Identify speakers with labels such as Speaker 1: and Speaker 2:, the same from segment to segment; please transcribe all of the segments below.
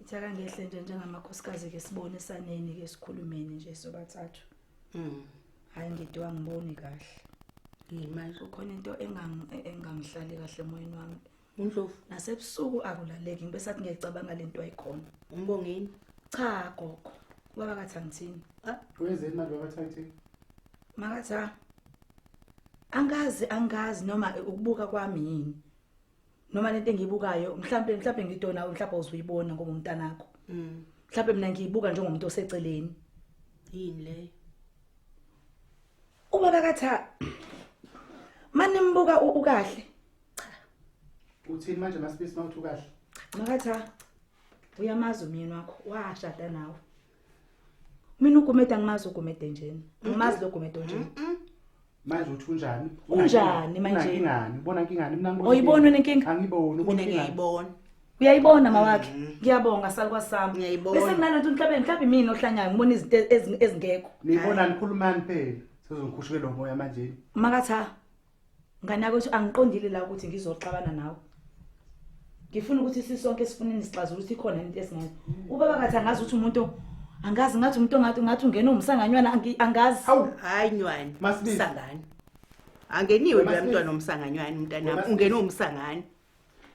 Speaker 1: Ithaka ngehle nje njengamakhosikazi ke sibone saneni ke sikhulumeni nje sobathathu. Mhm. Hayi ngidwa ngiboni kahle. Yini manje?
Speaker 2: Kukhona into
Speaker 1: engang- e- engangihlali kahle emoyeni wami. Undlovu,
Speaker 2: Nasebusuku
Speaker 1: akulaleki ngibe sathi ngiyayicabanga lento ayikhona. umbongeni.
Speaker 2: Cha
Speaker 1: gogo, ubaba kathi angithini. Wenzeni manje
Speaker 3: babathathe? Makathi
Speaker 1: ha. Angazi angazi noma ukubuka kwami yini. noma lento engiyibukayo mhlampe mhlampe ngidona mhlampe uzuyibona ngoba umntanakho mm mhlampe mina ngiyibuka njengomuntu oseceleni yini
Speaker 2: le
Speaker 1: uma bakatha manimbuka ukahle
Speaker 3: uthini manje masibisi mawuthi ukahle makatha
Speaker 1: uyamazi umyeni wakho washada nawe mina ugumede angimazi ugumede njeni angimazi lo gumede onjeni manje
Speaker 3: uthi unjani unjani manje
Speaker 1: ingani bona ingani
Speaker 3: mina ngibona oyibona nenkinga angiboni
Speaker 1: ubona
Speaker 3: ngiyayibona
Speaker 2: uyayibona
Speaker 1: mawakhe mm. ngiyabonga salwa sami ngiyayibona bese kunalento
Speaker 2: mhlawumbe mhlawumbe
Speaker 1: mina ohlanyayo ngibona izinto ezingekho niyibona nikhulumani
Speaker 3: phela sizongikhushukela umoya manje makatha
Speaker 1: Nganakwethu angiqondile la ukuthi ngizoxabana nawe. Ngifuna ukuthi sisonke sifuneni sixazula ukuthi ikhona into esingayo. Ubaba kathi angazi ukuthi umuntu angazi ngathi umuntu ongathi ngathi ungena umsanganywana angi- angazi. Hawu. Hayi nywani.
Speaker 2: Masibizi. Sangani. Angeniwe Wena, lo Masibizi. mntwana omsanganywana Wena, umntanami. Masibizi. Ungene umsangani.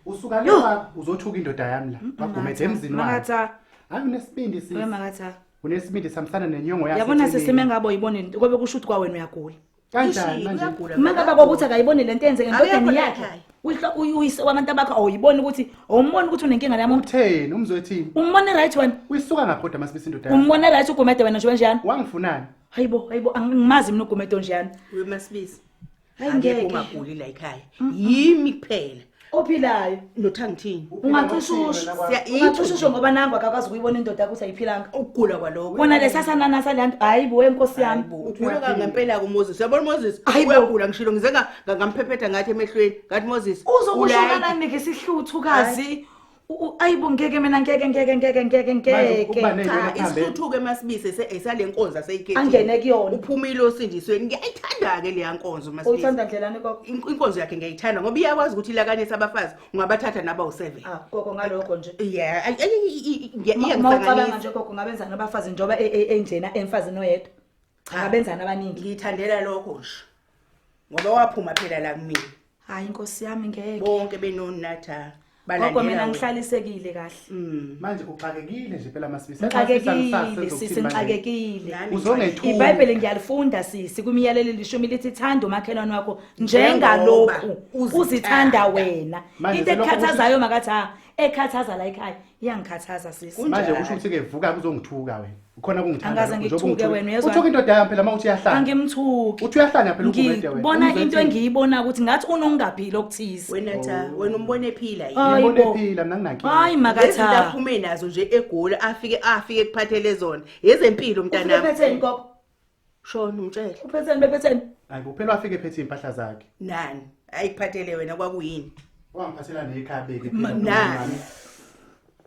Speaker 2: Usuka
Speaker 3: Yo. lapha uzothuka indoda yami la. Bagumede emzini wakhe. Makatha. Hayi
Speaker 1: unesibindi
Speaker 3: Wewe sisi. makatha. Unesibindi
Speaker 1: samsana
Speaker 3: nenyongo yakhe. Yabona eceleni. sesime ngabo yibona
Speaker 1: into kobe kusho ukuthi kwawena uyagula. kanjani manje
Speaker 3: ngigula uma ngaba kokuthi
Speaker 1: akayiboni lento eyenzeke endodeni yakhe uyihlo uyise wabantu abakho awuyiboni ukuthi awumboni ukuthi unenkinga la muntu utheni umzwethini
Speaker 3: umbone right wena
Speaker 1: uyisuka ngaphi kodwa masibisa
Speaker 3: indoda yakho umbone right ugumede wena nje
Speaker 1: kanjani wangifunani hayibo
Speaker 3: hayibo
Speaker 1: angimazi mina ugumede onjani uyomasibisa
Speaker 2: hayi ngeke
Speaker 1: ungaguli la
Speaker 2: ekhaya yimi kuphela ophilayo
Speaker 1: ndoda ngithini
Speaker 2: ungacisha usho
Speaker 1: ungacisha usho ngoba nangu akakwazi ukuyibona indoda yakho ukuthi ayiphilanga ukugula kwaloko kona
Speaker 2: lesasananasa
Speaker 1: le nto hayi bo wenkosi yami ugula kangempela-ke
Speaker 2: umoses uyabona umoses uyagula ngishilo ngize ngamphephetha ngathi emehlweni ngathi moses uzokusho kananike
Speaker 1: isihluthukazi ayibo ngeke mina ngeke ngeke ngeke ngeke ngeke cha
Speaker 2: isithuthuke masibise sale nkonzo aseyikhethi angene kuyona uphumile
Speaker 1: osindisweni
Speaker 2: ngiyayithanda ke leya nkonzo masibise uyithanda ndlelani koko
Speaker 1: inkonzo yakhe ngiyayithanda
Speaker 2: ngoba iyakwazi ukuthi ilakanisa abafazi ungabathatha naba u7 ah koko ngaloko
Speaker 1: nje yeah
Speaker 2: ngiyacabanga
Speaker 1: nje koko ngabenzana abafazi njoba e, e, enjena emfazini oyedwa Cha abenzana abaningi. Ngiyithandela lokho nje.
Speaker 2: Ngoba waphuma phela la kumina. Hayi inkosi
Speaker 1: yami ngeke. Bonke
Speaker 2: benonatha. Gogo mina
Speaker 1: ngihlalisekile kahle. Mm. Manje uxakekile
Speaker 3: nje phela masibisa. Ngixakekile
Speaker 1: sisi ngixakekile. Uzongethula. IBhayibheli
Speaker 3: ngiyalifunda
Speaker 1: sisi kumiyalelo lishumi lithi thanda umakhelwane wakho njengalokhu uzithanda wena. Into ekhathazayo makathi ha ekhathaza la ekhaya iyangikhathaza sisi manje Kunjani? kusho ukuthi ke vuka
Speaker 3: kuzongithuka wena ukhona kungithanda Angikaze lokho, njengoba ngikuthuke ungithuka. wena, uyezwa?
Speaker 1: uthuka indoda yami phela uma uthi
Speaker 3: iyahlanya angimthuki uthi uyahlanya
Speaker 1: phela ugumede
Speaker 3: wena ngibona Umzwe into ethini? engiyibona
Speaker 1: ukuthi ngathi unongaphili okuthize wena tha wena umbone
Speaker 2: ephila yini Hayi Ngibona bo. ephila mna nginankinga
Speaker 3: hayi lezinto makatha
Speaker 1: aphume nazo
Speaker 2: nje egoli afike afike kuphathele zona yezempilo mntanami Uphetheni gogo?
Speaker 1: Shona
Speaker 2: umtshele. Uphetheni bephetheni.
Speaker 1: Hayi kuphela wafike
Speaker 3: phethe impahla zakhe. Nani?
Speaker 2: Ayikuphathele wena kwakuyini? Wangiphathela
Speaker 3: nekhabeke. Nani?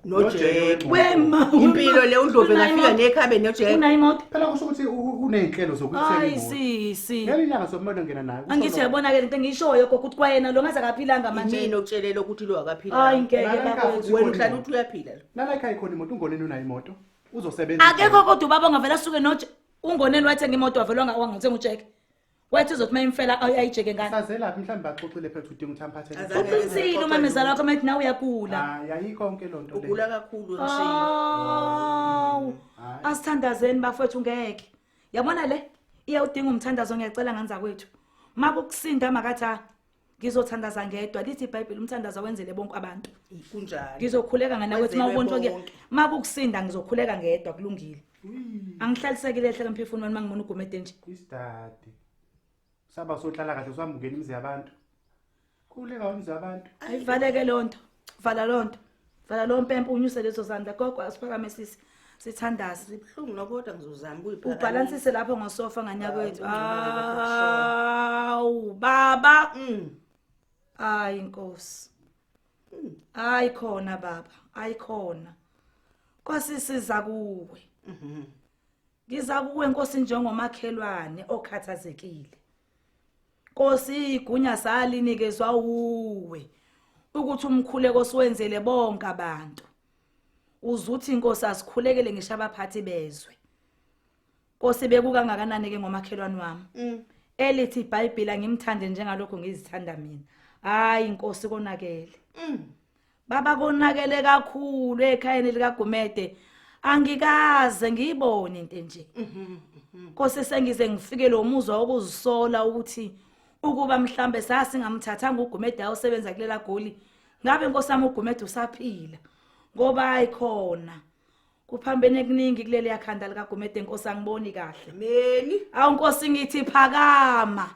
Speaker 2: nojeke wema
Speaker 1: impilo le udlovu
Speaker 2: engafika nekhabe nojeke unayimoto phela kusho ukuthi
Speaker 3: unezinhlelo zokuthenga hayi sisi
Speaker 1: ngelinyanga sokumele ngena
Speaker 3: nayo angithi yabona ke into
Speaker 1: engishoyo gogo ukuthi kwayena lo ngaze akaphilanga manje yini okutshelela ukuthi lo
Speaker 2: akaphila hayi ngeke bakwethu
Speaker 1: wena uhlala
Speaker 2: uthi uyaphila lo nala ekhaya khona imoto ungoneni
Speaker 3: unayo imoto uzosebenza akekho kodwa ubaba
Speaker 1: ongavela asuke noje ungoneni wathi ngimoto wavelwa nga wangathi ngujeke wathi uzothi mayimfela ayijeke ngani sazelaphi mhlawumbe baxoxile
Speaker 3: phethu udinga ukuthi amphathe Azabe- uqinisile umamezala
Speaker 1: wakho mathi nawe uyagula Ah, yayikho yonke loo
Speaker 3: nto le. ugula kakhulu Ah.
Speaker 1: ngishiye awu Hayi. asithandazeni bafowethu ngeke yabona le iyawudinga umthandazo ngiyacela nganza kwethu makukusinda makathi ah ngizothandaza ngedwa lithi ibhayibheli umthandazo awenzele bonke abantu kunjalo ngizokhuleka
Speaker 2: ngana ukuthi
Speaker 1: uma ubontshwa ke uma kukusinda ngizokhuleka ngedwa kulungile angihlalisekile ehle kamphefuni wami mangibona ugumede nje isidade
Speaker 3: saba sohlala kahle samukela imizi yabantu khuleka imizi yabantu ayivaleke lonto
Speaker 1: vala loo nto vala loo mpempe unyuse lezo zandla gogo asiphakame sisi sithandaze sibuhlungu nokodwa
Speaker 2: ngizozama ubhalansise lapho ngosofa
Speaker 1: nganyakwethu awu baba mm. ayi nkosi mm. ayi khona baba ayi khona kwasisiza kuwe mhm. ngiza kuwe nkosi njengomakhelwane okhathazekile Nkosi igunya salinikezwa uwe ukuthi umkhuleko siwenzele bonke abantu. Uzuthi inkosi asikhulekele ngisho abaphathi bezwe. Nkosi bekukangakanani ke ngomakhelwane wami? Mm. Elithi iBhayibheli ngimthande njengalokho ngizithanda mina. Hayi inkosi konakele. Mm. baba konakele kakhulu ekhayeni likagumede angikaze ngiyibone into enje kose sengize ngifike lo muzwa wokuzisola ukuthi ukuba mhlambe sasingamthathanga ugumede awusebenza kulela goli ngabe nkosami ugumede usaphila ngoba ayikhona kuphambene kuningi kuleli yakhanda likagumede nkosi angiboni kahle neni awu
Speaker 2: nkosi ngithi
Speaker 1: phakama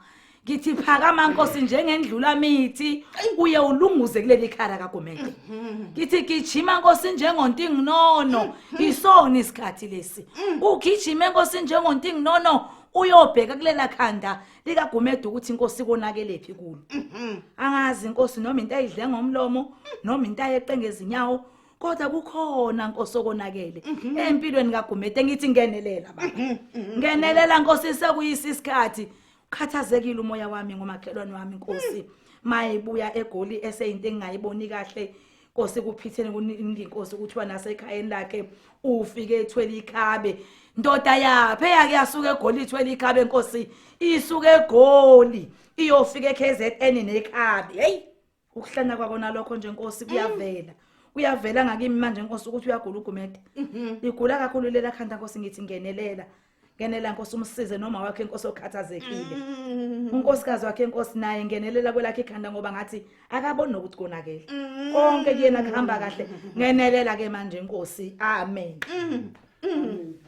Speaker 1: ngithi phakama nkosi njengendlula mithi uye ulunguze kuleli khara kagumede mhm. ngithi gijima nkosi njengontinginono isona isikhathi lesi mm. ugijime nkosi njengontinginono uyobheka kulela khanda likagumede ukuthi inkosi konakelephi kulo mhm. angazi inkosi noma into ayidle ngomlomo noma into ayeqe ngezinyawo kodwa kukhona nkosi okonakele mhm. empilweni kaGumede engithi ngenelela baba mhm, mhm, ngenelela nkosi sekuyisa isikhathi ukhathazekile umoya wami ngomakhelwane wami nkosi mayibuya egoli eseyinto engingayiboni kahle Nkosi kuphithene kuningi Nkosi kuthiwa nasekhayeni lakhe ufike ethwele ikhabe ndoda yaphe yake yasuka egoli ithwele ikhabe Nkosi isuke egoli iyofika eKZN nekhabe hey ukuhlanya kwako nalokho nje nkosi kuyavela kuyavela ngakimi manje nkosi ukuthi uyagula ugumede igula kakhulu lela khanda nkosi ngithi ngenelela ngenela nkosi umsize noma wakhe inkosi okhathazekile unkosikazi wakhe inkosi naye ngenelela kwelakhe ikhanda ngoba ngathi akaboni nokuthi konakele konke kuyena kuhamba kahle ngenelela ke manje inkosi amen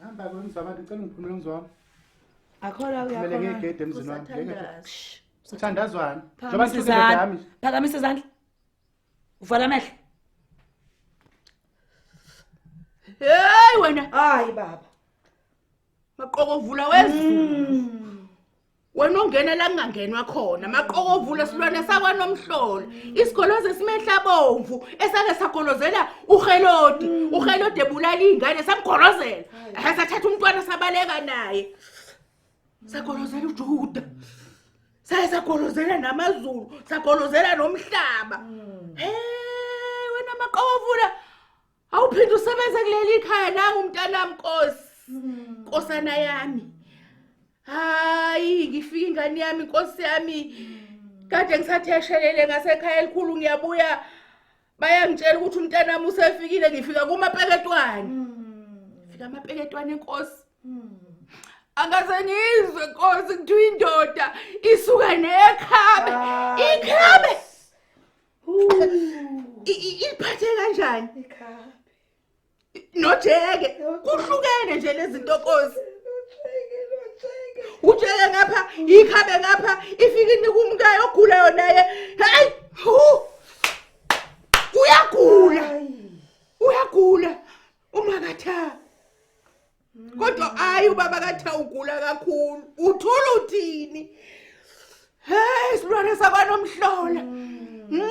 Speaker 1: hamba
Speaker 3: kwemzabani ngicela ngiphumele ngizwami akhola
Speaker 1: Kumele uyakhola ngigede
Speaker 3: emzini wami. Kusathandazi.
Speaker 2: sithandazwana
Speaker 3: njengoba Phakamisa ngihlukile izandla. nami
Speaker 1: Phakamisa izandla. Uvala amehlo.
Speaker 2: Hey wena hayi baba maqokovula wezulu wena ongena la kungangenwa khona maqokovula silwane sakwanomhlola isigoloze simehla bomvu esake sagolozela uhelodi uhelodi ebulala iy'ngane samgolozela ehe sathatha umntwana sabaleka naye sagolozela ujuda saye sagolozela namazulu sagolozela nomhlaba um wena maqovula awuphinde usebenze kuleli khaya nangu umntanami nkosi hmm. nkosana yami hayi ngifike ingane yami nkosi yami hmm. kade ngisatheshelele ngasekhaya elikhulu ngiyabuya bayangitshela ukuthi umntanami usefikile ngifika kumapeketwane hmm. fika amapeketwane inkosi hmm. angaze ngizwe nkosi kuthiwa indoda isuka nekhabe ah, ikhabe iphathe kanjani ikhabe nojeke kuhlukene nje lezinto kosi ujeke ngapha ikhabe ngapha ifike inika umkayo ogulayo naye hayi uyagula uyagula umakatha kodwa hayi ubaba katha ugula kakhulu uthula uthini hey isilwane sakwanomhlola mm. Mm.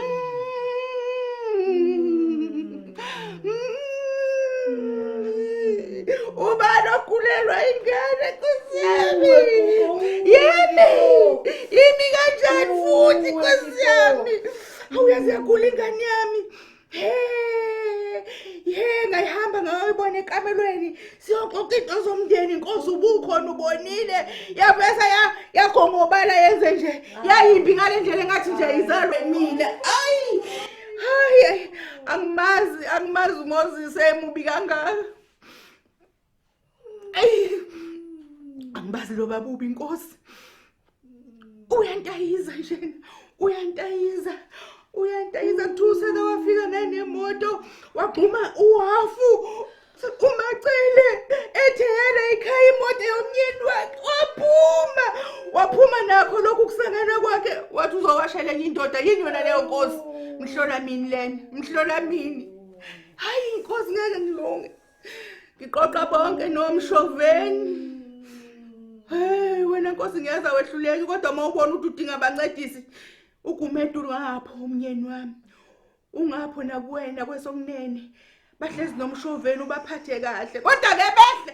Speaker 2: ubani ogulelwa ingane kusiyami yimi yimi kanjani futhi kusiyami awuyazi yagula ingane yami yena ihamba ngayoyibona ekamelweni siyoxoxa into zomndeni inkosi ubukhona ubonile yavesa yagongobala yenze nje yayimbi ngale ndlela engathi nje izalwe mina ayi hayi angimazi angimazi umoses emubi kangaka angibazi lo babubi inkosi uyantayiza njena uyantayiza uyantayiza thuse la wafika nanemoto wagxuma uhafu umacele etheyela ikhaya imoto yomnyeni wakhe waphuma waphuma nakho lokhu kusangana kwakhe wathi uzowasha lenye indoda yini yona leyo nkosi mhlola mini lena mhlola mini hayi inkosi ngeke ngilunge ngiqoqa bonke nomshoveni hey wena nkosi ngiyeza wehluleki kodwa uma ubona ukuthi udinga abancedisi ugumedulu ngapho umnyeni wami ungapho nakuwena kwesokunene bahlezi nomshoveni ubaphathe kahle kodwa ke behle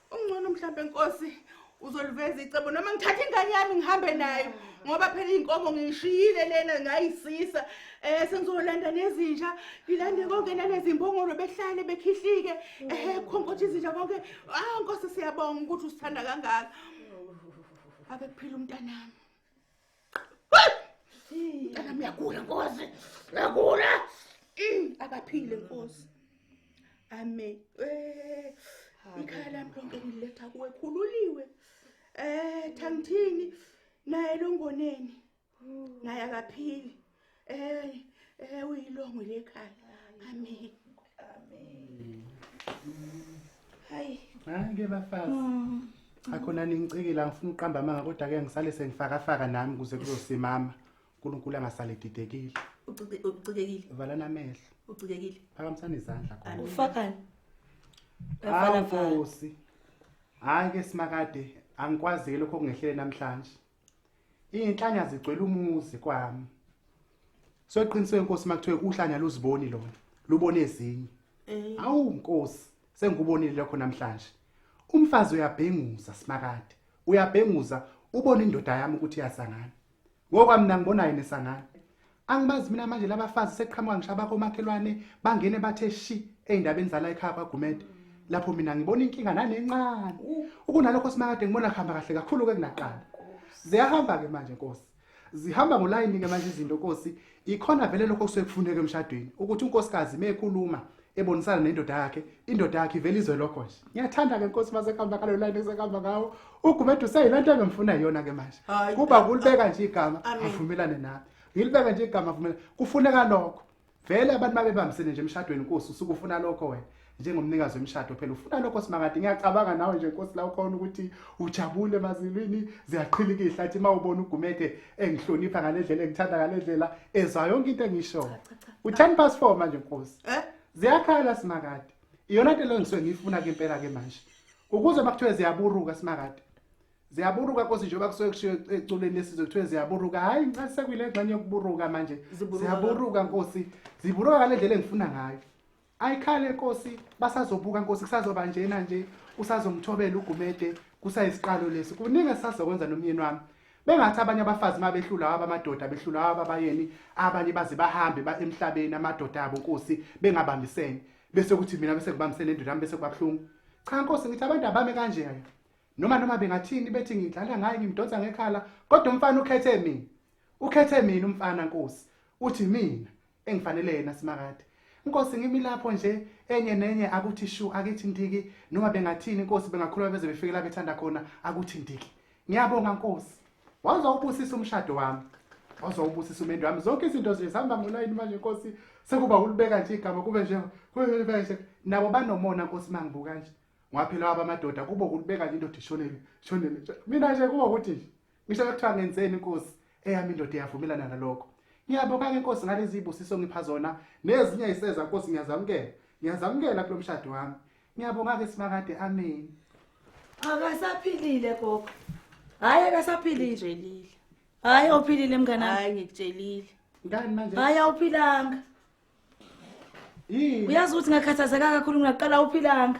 Speaker 2: ungcono mhlampe nkosi uzoliveza icebo noma ngithatha ingane yami ngihambe nayo ngoba phela iy'nkomo ngiyishiyile lena ngayisisa um sengizolanda nezinja ngilande konke nanezimbongolo behlale bekhihlike ehe khonkothi izinja konke ah nkosi siyabonga ukuthi usithanda kangaka ake kuphile umntanami Kana miyagula nkosi. Ngagula. Mm, akaphile nkosi. Amen. Eh ikhaya lami lonke ngiletha kuwe khululiwe. Eh thangithini naye longoneni. Naye akaphili. Hey, eh uyilongo lekhaya. Amen. Amen. Hayi. Hayi ke
Speaker 3: bafazi. Mm. Akhona ningicikile angifuni uqamba amanga kodwa ke ngisale sengifaka faka nami kuze kuzosimama. uNkulunkulu angasale didekile. Ucikekile.
Speaker 2: Vala namehlo.
Speaker 3: Ucikekile.
Speaker 2: Phakamisana izandla
Speaker 3: khona. Ufakani?
Speaker 1: Hawu Nkosi.
Speaker 3: Hayi ke simakade angikwazile lokho kungehlele namhlanje. Iy'nhlanya zigcwele umuzi kwami. So iqiniso inkosi makuthiwe uhlanya luziboni lona, lubone ezinye. Eh. Awu nkosi, sengikubonile lokho namhlanje. Umfazi uyabhenguza simakade. Uyabhenguza ubona indoda yami ukuthi iyasangana. Ngokwami mina ngibona yini esangana. angibazi mina manje labafazi seqhamuka ngisho abakomakhelwane bangene bathe shi ey'ndabeni zala ekhaya kwagumede lapho mina ngibona inkinga nanencane ukunalokho simakade ngibona kuhamba kahle kakhulu-ke kunaqala ziyahamba-ke manje nkosi zihamba ngolayini-ke manje izinto nkosi ikhona vele lokho kusuke kufuneke emshadweni ukuthi unkosikazi mekhuluma ebonisana nendoda yakhe indoda yakhe ivele izwe lokho nje ngiyathanda ke nkosi mase kamba kalo line sekamba ngawo ugubedu useyilento engimfuna yona ke manje kuba kulibeka nje igama avumelane nami ngilibeka nje igama avumelane kufuneka lokho vele abantu babebambisene nje emshadweni nkosi usukufuna lokho wena njengomnikazi wemshado phela ufuna lokho simakade ngiyacabanga nawe nje nkosi la ukhona ukuthi ujabule mazilwini ziyaqhilika ihlathi uma ubona ugumede engihlonipha ngalendlela engithanda ngalendlela ezwa yonke into engisho u10 past 4 manje nkosi eh? ziyakhala simakade iyona into lengisuke ngiyifuna ke impela ke manje ukuze bakuthiwe ziyaburuka simakade ziyaburuka nkosi njengoba kusuke kushiwo eculeni lesizwe kuthiwe ziyaburuka hhayi ngicela sekuyile ngxenye yokuburuka manje ziyaburuka nkosi ziburuka ngale ndlela engifuna ngayo ayikhale nkosi basazobuka nkosi kusazoba njena nje usazomthobela ugumede kusayisiqalo lesi kuningi esisazokwenza nomyeni wami bengathi abanye abafazi uma behlula wabo amadoda behlula wabo abayeni abanye baze bahambe ba emhlabeni amadoda abo nkosi bengabambisene bese kuthi mina bese ngibambisene indoda yami bese kubabuhlungu cha nkosi ngithi abantu abame kanje yaya noma noma bengathini bethi ngidlala ngaye ngimdonsa ngekhala kodwa umfana ukhethe mina ukhethe mina umfana nkosi uthi mina engifanele yena simakade Nkosi ngimi lapho nje enye nenye akuthi shu akithi ndiki noma bengathini Nkosi bengakhuluma beze befike la bethanda khona akuthi ndiki ngiyabonga Nkosi waza ubusisa umshado wami waza ubusisa umendo wami zonke izinto nje zihamba ngolayini manje Nkosi sekuba ulibeka nje igama kube nje kube nje nabo banomona Nkosi mangibuka nje ngwaphela wabamadoda kubo kulibeka nje indoda ishonele shonele mina nje kubo ukuthi nje ngisho kuthiwa ngenzeni inkosi eyami indoda iyavumelana nalokho ngiyabonga-ke nkosi ngalezi ibusiso ngipha zona nezinye ayiseza nkosi ngiyazamukela ngiyazamukela kulo mshado wami ngiyabonga-ke simakade ameni akasaphilile
Speaker 1: gogo hhayi akasaphilile hhayi awuphilile mnganami ngikutshelile ngani manje
Speaker 3: hhayi
Speaker 1: awuphilanga uyazi ukuthi ngakhathazeka kakhulu ngaqala awuphilanga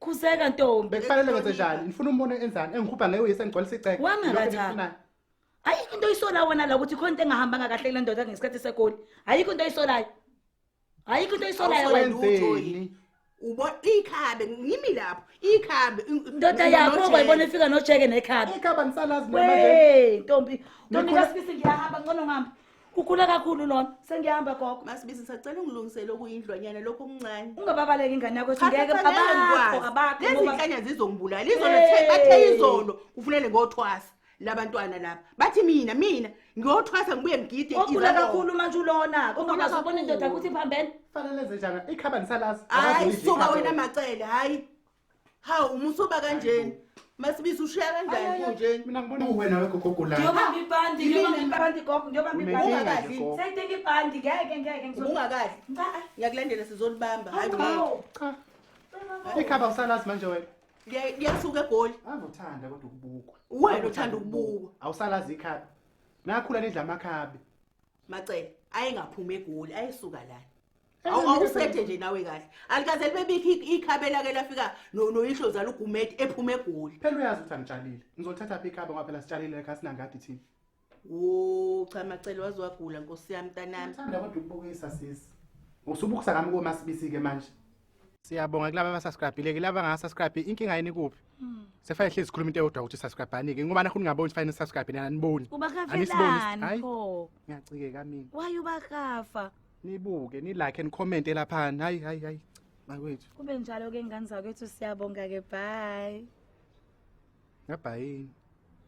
Speaker 1: khuzeka ntombi bekufanele ngenze njani
Speaker 3: ngifuna umbone enzani engikhupha ngeyo yesengigcwalisa iceke wangakathanga
Speaker 1: ayikho into oyisola wena la ukuthi khona into engahambanga kahle kule ndoda ngesikhathi segoli ayikho into oyisolayo
Speaker 3: ayikho into
Speaker 1: oyisolayo wena ubo ikhabe
Speaker 2: ngimi lapho ikhabe ndoda yakho
Speaker 1: kwayibona ifika nojeke nekhabe ikhabe angisalazi noma nje
Speaker 3: ntombi
Speaker 1: ntombi kasibisi ngiyahamba ngcono ngihamba ukhula kakhulu lona sengiyahamba gogo masibizi ngisacela ungilungisele
Speaker 2: okuyindlwanyana lokho okuncane ungababaleki ingane yakho ethi
Speaker 1: ngeke abakho abakho lezinhlanya
Speaker 2: zizongibulala izolo bathe izolo kufunele ngothwasa labantwana laba bathi mina mina ngiyothwasa ngibuye ngigide ogula kakhulu manje
Speaker 1: ulona kungaba sobona indoda ukuthi iphambene fanele zenjana
Speaker 3: ikhaba nisalazi hayi suka wena
Speaker 2: macele hayi hawu umusa uba kanjeni masibisi ushiya kanjani kunjeni mina ngibona uwena
Speaker 3: wegogogulana ngiyobamba ibhandi ngiyobamba
Speaker 1: ibhandi gogo ngiyobamba ibhandi ungakadli sayidinga
Speaker 2: ibhandi
Speaker 1: ngeke ngeke ungakadli
Speaker 2: ngiyakulandela sizolibamba hayi
Speaker 3: cha ikhaba usalazi manje wena ngiyasuka
Speaker 2: egoli avuthanda kodwa
Speaker 3: ukubukwa wena uthanda
Speaker 2: ukubukwa awusalazi ikhaba
Speaker 3: nakhula nidla amakhabi macela
Speaker 2: ayengaphumi egoli ayesuka lana Awu- awusethe nje nawe kahle alikaze libebikho i- ikhabe lake lafika no- noyihlo zala ugumeti ephuma egoli phela uyazi ukuthi angitshalile
Speaker 3: ngizolithatha phi ikhabe ngoba phela sitshalile ekhaya sinangadi thina wo
Speaker 2: cha macela waze wagula nkosi yami mntanami thanda kodwa ukubukisa
Speaker 3: sisi usubukisa kami komasibisi-ke manje Siyabonga kulaba abasubscribile ke laba ngasubscribe inkinga yini kuphi? Hmm. Sefaya hlezi sikhuluma into eyodwa ukuthi subscribe anike ngoba nakho ningaboni fine subscribe nina aniboni. Ubakavelani
Speaker 1: pho? Ngiyacike kamini.
Speaker 3: Why ubakafa?
Speaker 1: Nibuke, ni
Speaker 3: like and comment lapha. Hayi hayi hayi. Makwethu. Kube njalo ke ngane
Speaker 1: zakwethu siyabonga ke bye. Ngabhayini.